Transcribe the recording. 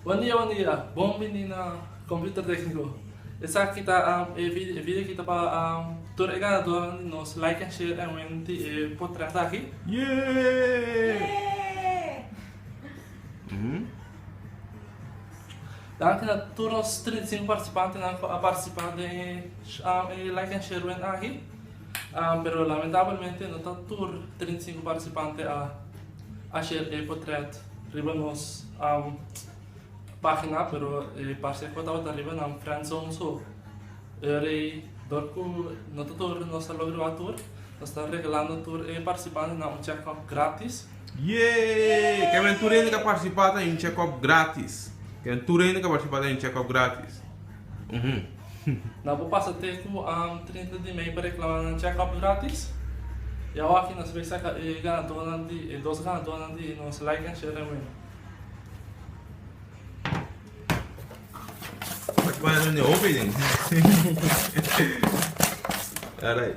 Bon dia bon dia, bon bini na Computer Tecnico. Esaki ta e video ki ta pa tur e ganadornan di nos Like and Share and Win di e potret aki. Danki na tur nos trinta i sinku participantenan ku a participa den e Like and Share Win aki, pero lamentablemente no ta tur trinta i sinku participante a A ser e potret riba nos pagina pero e parse cu tabata riba nan friend zone so ora y door cu no ta tur nos ta logra wak tur nos ta regalando tur e participantenan un check up gratis. Yay! Ke men tur hende ke a participa ta hay un check up gratis. Ke men tur hende ke a participa ta hay un check up gratis. Nan por pasa te ku trinta di mei pa reklama nan chèkòp grátis. I awa aki nos bai saka e ganadónan di e dos ganadónan di nos Like and Share and Win. Alright.